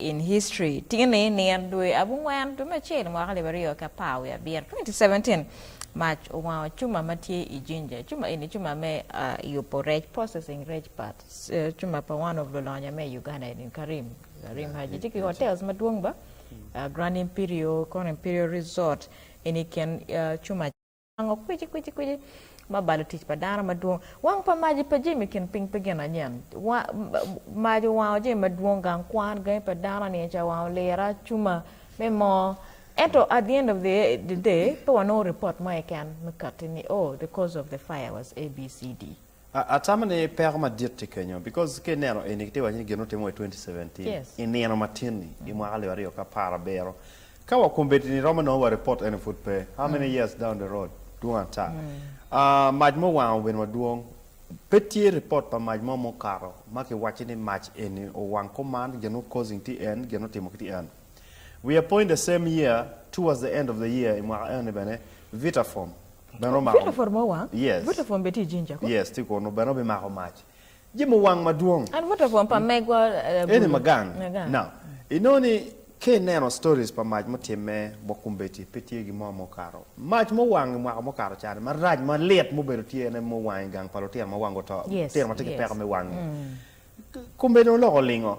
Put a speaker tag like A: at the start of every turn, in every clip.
A: in history tinge ni nino dwe abungwen dwe me acel mwaka alip aryo ki apar wiye abiro 2017 mac owango cuma ma tye i jinja cuma eni cuma me yubo rec processing rec part cuma pa one of lulonya me Uganda eni Karim Karim Haji tye ki hotels madwong ba Grand Imperial Grand Imperial Resort eni i kin cuma Ango kwici kwici kwici ma balo tic pa dano madwong? Wang pa maji pa jami kin piny pe gin anyen. Maji owango jami madwong, gang kwan, gangi pa dano, niye ca owango lira, cuma, me moo. Ento at the end of the the day pe wanongo report mo keken me kati ni oh the cause of the fire was ABCD. Atamo ni
B: peko madit tye kenyo because ka ineno eni kitye waco ni gin ma otimo wa i twenty seventeen i nino matin
A: ni
B: i mwaka alip aryo ki apar abiro ka wa kombeddi ni romo nongo wa report ene pud pe how many years down the road dwong ata mac mo wango bino madwong pe tye report pa mac mo mukato ma ki waco ni mac eni owang kuman gin ma causing tye en gin ma otimo ki tye en we are point the same year towards the end of the year i mwaka ene bene Vitaform
A: Bene omako
B: mac. Jami owang madwong.
A: Eni ma gang.
B: Now, inongo ni ka ineno stories pa mac mutimme bot kombeddi pe tye gin mo ma okato. Mac ma owang i mwaka mukato ca ni marac malit mubedo tye en aye ma owang i gang pa lutino ma wangi oto, lutino ma tye ki peko me wangi. Kombeddi-ni oloko olingo.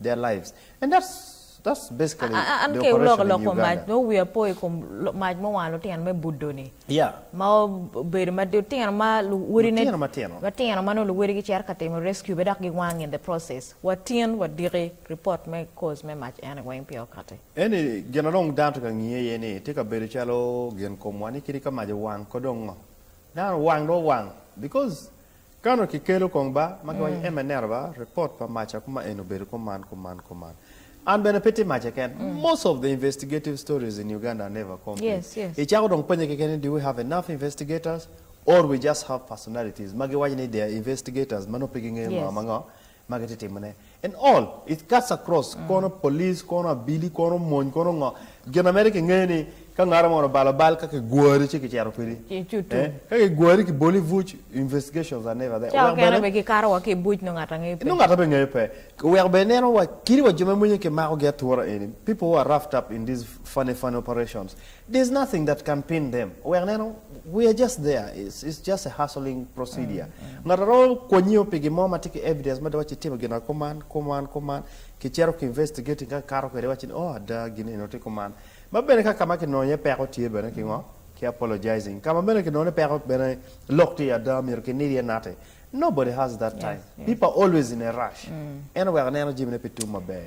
B: their lives and that's that's basically the operation in Uganda. An ke loko lok kom mac no wia po i kom
A: mac mo wang lutino me budo ni. Yeah. Ma
B: obedo
A: ma lutino ma luwodi ne lutino matino. Matino ma no luwodi gi cero ka timo rescue be dok gi wang in the process. Wa tin wa diki report me cause me mac eni weng pia okati. Eni gin a dong
B: dano tye ka ngiye iye ni tye ka bedo calo gin kom wa ni kadi ka mac owang ko dong ngo. Dano owang dong owang because Kano ki kelo kong ba ma giwaco ema ineno ba report pa maca kuma en obedo kuman kuman kuman an bene pe tye maca ken most of the investigative stories in Uganda are never complete icako dong penye keken ni do we have enough investigators or we just have personalities ma giwaco ni they are investigators ma nongo pe gingeyo ngo ma ngo ma gitye timone and all it cuts across kono police kono abili kono mony kono ngo gin na mere kingeyo ni ka ngaro moni obalo bal ka kigwari ci kicito kwidi eh ka kigwari kiboli ibuc investigations are never there ca oweko okene bene bene kikato wa
A: ki ibuc nongo ngat angeyo pe nongo ngat aye pe ngeyo pe
B: oweko bene ineno wa kit wa jo ma mwenye kimako gi atura eni people who are roughed up in these funny funny operations There's nothing that can pin them wek neno we are just there it's it's just a hustling procedure ngat aromo kwonyo pi gin mo ma tye ki evidence mada waci itimo gina kuman kuman kuman ki cito ki investigating ka kikato kwede iwaci ni oh ada gin eno tye kuman ma bene ka kama kinongo iye peko tye bene ki ngo ki apologizing kama bene kinongo ni peko bene lok tye ada myero ki nid iye nati nobody has that time people are always in a rush en oweko neno jami ne pe tum maber.